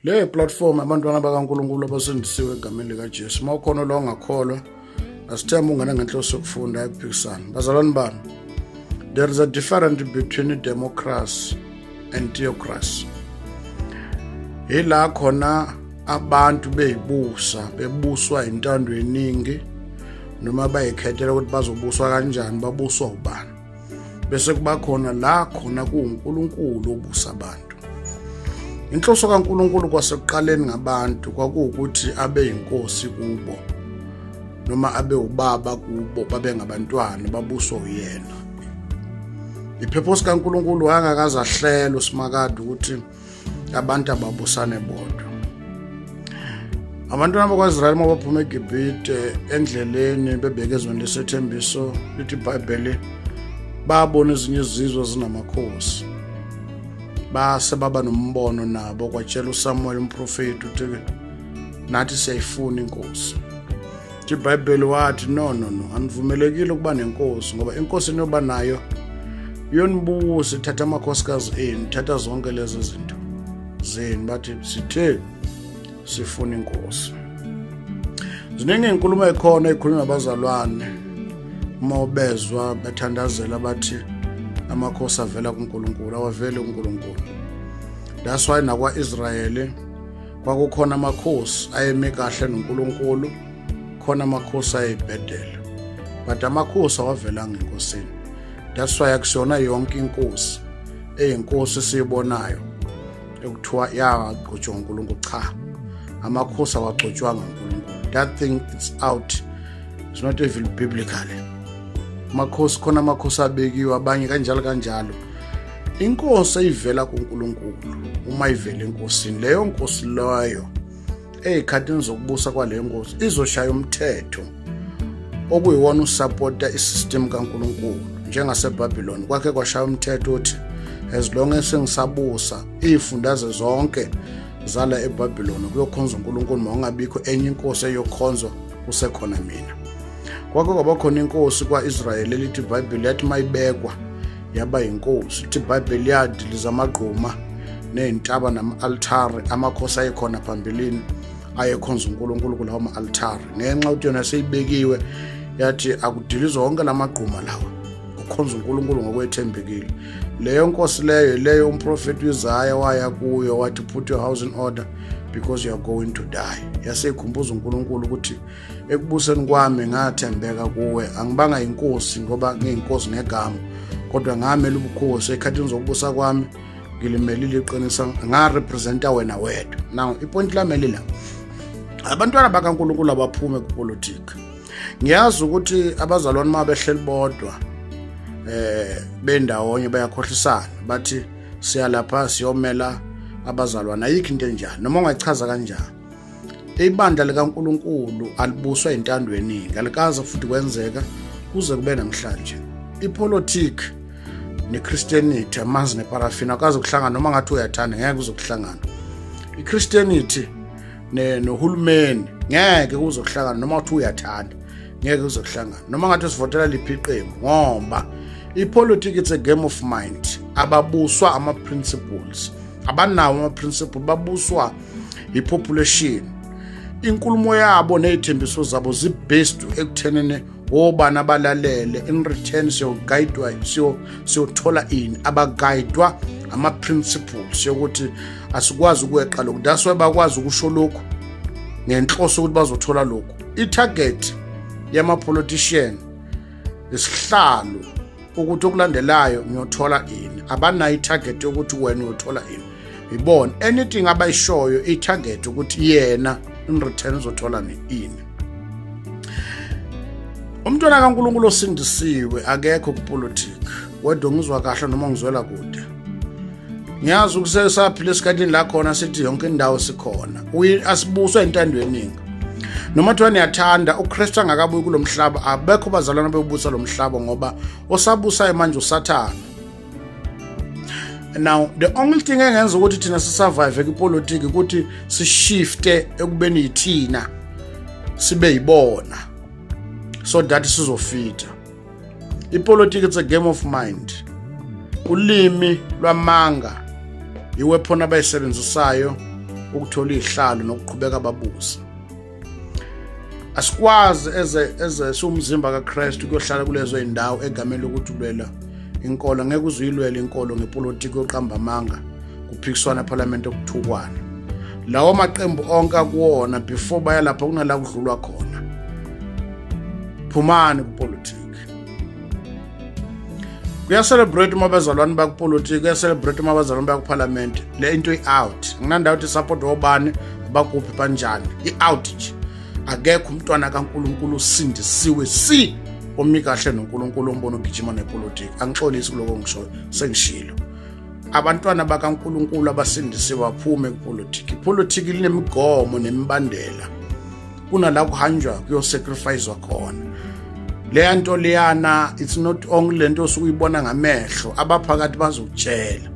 le platform abantwana bakaNkuluNkulu abasindisiwe egameni likaJesu uma ukhona lo ongakholwa asithemba ungane ngenhloso yokufunda ephikisana bazalwane bami there is a difference between democracy and theocracy yila khona abantu beyibusa bebuswa intando yeningi noma bayikhethela ukuthi bazobuswa kanjani babuswa ubani bese kuba khona la khona kuwuNkulunkulu obusa abantu inhloso kaNkulunkulu kwasekuqaleni ngabantu kwakuwukuthi abe yinkosi kubo noma abe ubaba kubo babe ngabantwana babuswa uyena iphephosi kaNkulunkulu wayengakazahlelwa uSimakade ukuthi abantu ababusane bodwa abantwana bakwaisrayeli uma baphuma egibhite endleleni bebheke ezweni lesethembiso lithi ibhayibheli babona ezinye izizwe zinamakhosi base baba nombono nabo kwatshela usamuweli umprofeti ukuthi nathi siyayifuna inkosi nje ibhayibheli wathi no no no anivumelekile ukuba nenkosi ngoba inkosi eniyoba nayo yonibusa ithatha amakhosikazi enu ithatha zonke lezo zinto zenu bathi sithe sifuna inkosi ziningi inkulumo ekhona ekhulunywa abazalwane uma ubezwa bethandazela bathi amakhosi avela kuNkulunkulu awaveli kuNkulunkulu that's why nakwa-Israyeli kwakukhona amakhosi ayeme kahle noNkulunkulu khona amakhosi ayebhedela but amakhosi awavelanga enkosini that's why akusiyona yonke inkosi eyinkosi siyibonayo ekuthiwa yagqotshwa uNkulunkulu cha amakhosi awagcotshwanga uNkulunkulu that thing it's out it's not even biblical amakhosi khona amakhosi abekiwe abanye kanjalo kanjalo inkosi eyivela kuNkulunkulu uma ivela enkosini leyo nkosi loyo ezikhathini zokubusa kwaleyo nkosi izoshaya umthetho okuyiwona usapota isystem kaNkulunkulu njengaseBabylon kwakhe kwashaya umthetho uthi as long as sengisabusa izifundaze zonke zala eBabylon kuyokhonza uNkulunkulu mawungabikho enye inkosi eyokhonzwa kusekhona mina kwakho kwabakhona inkosi kwaIsrael elithi iBhayibheli yathi mayibekwa yaba yinkosi lithi ibhayibheli yadiliza amagquma ney'ntaba nama-altari amakhosi ayekhona phambilini ayekhonza unkulunkulu kulawo ma-altari ngenxa ukuthi yona seyibekiwe yathi akudilizwa wonke la magquma lawa ukhonza unkulunkulu ngokwethembekile leyo nkosi leyo leyo umprofethi uizaya waya kuyo wathi put your house in order because you are going to die yaseyikhumbuza unkulunkulu ukuthi ekubuseni kwami ngathembeka kuwe angibanga yinkosi ngoba ngiyinkosi ngegama kodwa ngamela ubukhosi ekhathini zokubusa kwami ngilimelile iqinisa ngarepresenta wena wedwa now ipointi lami elila abantwana bakankulunkulu abaphume kupolitiki ngiyazi ukuthi abazalwane uma behleli bodwa eh bendawonye bayakhohlisana bathi siyalapha siyomela abazalwane ayikho into enjani noma ungachaza kanjani ibandla likaNkuluNkulu alibuswa intando yeningi alikaze futhi kwenzeka kuze kube namhlanje ipolitiki neChristianity amanzi neparafina akaze kuhlangana noma ngathi uyathanda ngeke uzokuhlangana iChristianity nohulumeni ngeke uzokuhlangana noma ngathi uyathanda ngeke uzokuhlangana noma ngathi usivotela liphi iqembu ngoba ipolitiki it's a game of mind ababuswa ama-principles abanawo ama-principle babuswa ipopulation inkulumo yabo nezithembiso zabo zibased ekuthenene obani abalalele in return siyoguidwa siyothola ini abaguidwa ama-principles yokuthi asikwazi ukweqa lokhu that's why bakwazi ukusho lokhu ngenhloso ukuthi bazothola lokhu i-target yama-politician isihlalo ukuthi okulandelayo ngiyothola ini abanayo i-target yokuthi wena uyothola ini yibona anything abayishoyo i-target ukuthi yena in return uzothola ini umntwana kaNkuluNkulu osindisiwe akekho kupolitiki wedwa ngizwa kahle noma ngizwela kude ngiyazi ukusesaphila esikhathini la khona sithi yonke indawo sikhona asibuswa intando eningi noma kuthiwa niyathanda ukristu angakabuyi kulo mhlaba abekho bazalwana bebusa lo mhlaba ngoba osabusayo manje usathane now the only thing engenza ukuthi thina sisurvive kwipolitiki ukuthi sishifte ekubeni yithina sibe yibona so that sizofita ipolitiki it's a game of mind ulimi lwamanga iwephona abayisebenzisayo ukuthola izihlalo nokuqhubeka babusa asikwazi eze eze siwumzimba kaKristu kuyohlala kulezo indawo egameni lokuthi ulwela inkolo ngeke uzuyilwela inkolo ngepolitiki yoqamba amanga kuphikiswana eParliament okuthukwana lawo maqembu onke akuwona before bayalapha kunala kudlulwa khona phumani kupolitiki kuyacelebrate uma abazalwane bakupolitiki kuyacelebrate uma abazalwane bakuphalamende le into i-out nginandawo ukuthi support wobani bakuphi banjani i-out nje akekho umntwana kankulunkulu usindisiwe si omi kahle nonkulunkulu ombona ugijima nepolitiki angixolisi kuloko ngishoyo sengishilo abantwana bakankulunkulu abasindisiwe baphume kupolitiki ipolitiki linemigomo nemibandela kunala kuhanjwa kuyosacrificewa khona leya nto leyana it's not only le nto osuke uyibona ngamehlo abaphakathi bazokutshela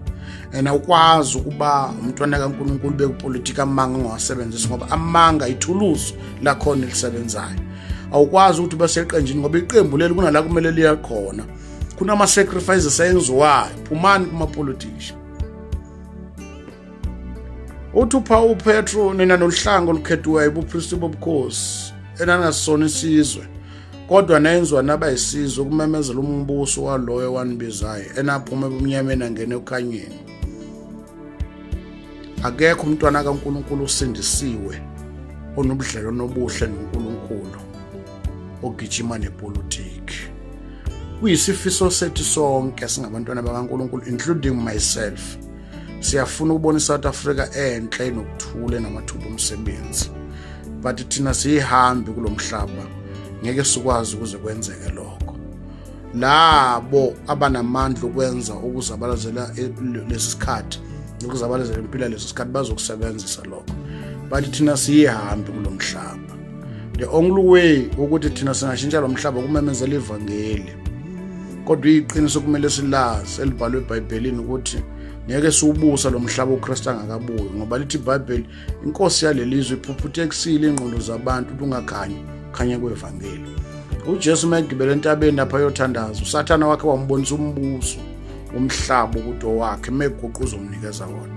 and awukwazi ukuba umntwana kaNkuluNkulu bekupolitika amanga ongawasebenzisi ngoba amanga ithuluzi lakhona elisebenzayo awukwazi ukuthi ube seqenjini ngoba iqembu leli kunala kumele liya khona kunama-sacrifices ayenziwayo phumani kuma-politician uthi uphawu upetro nina nohlango olukhethiweyo ubupristi bobukhosi enangasona isizwe kodwa nayenzwa naba yisizwe ukumemezela umbuso waloyo wanibizayo enaphuma ebumnyameni angene okhanyeni akekho umntwana kaNkuluNkulu usindisiwe onobudlelwano obuhle noNkuluNkulu ogijima nepolitiki kuyisifiso sethu sonke singabantwana bakaNkuluNkulu including myself siyafuna ukubona iSouth Africa enhle nokuthule namathuba omsebenzi but thina siyihambi kulomhlaba ngeke sikwazi ukuze kwenzeke lokho labo abanamandla ukwenza ukuzabalazela e, lesikhathi ukuzabalazela impilo lesikhathi bazokusebenzisa lokho but thina siyihambi kulomhlaba the only way ukuthi thina singashintsha lomhlaba kumemezela ivangeli kodwa iqiniso kumele silazi elibhalwe ebhayibhelini ukuthi ngeke siwubusa lo mhlaba uKristu angakabuyi ngoba lithi iBhayibheli inkosi yalelizwe iphuphuta ekusile ingqondo zabantu lungakhanyi khanye kwevangeli uJesu megibele entabeni lapha yothandaza usathana wakhe wambonisa umbuso umhlaba ukuthi owakhe meguquza umnikeza wona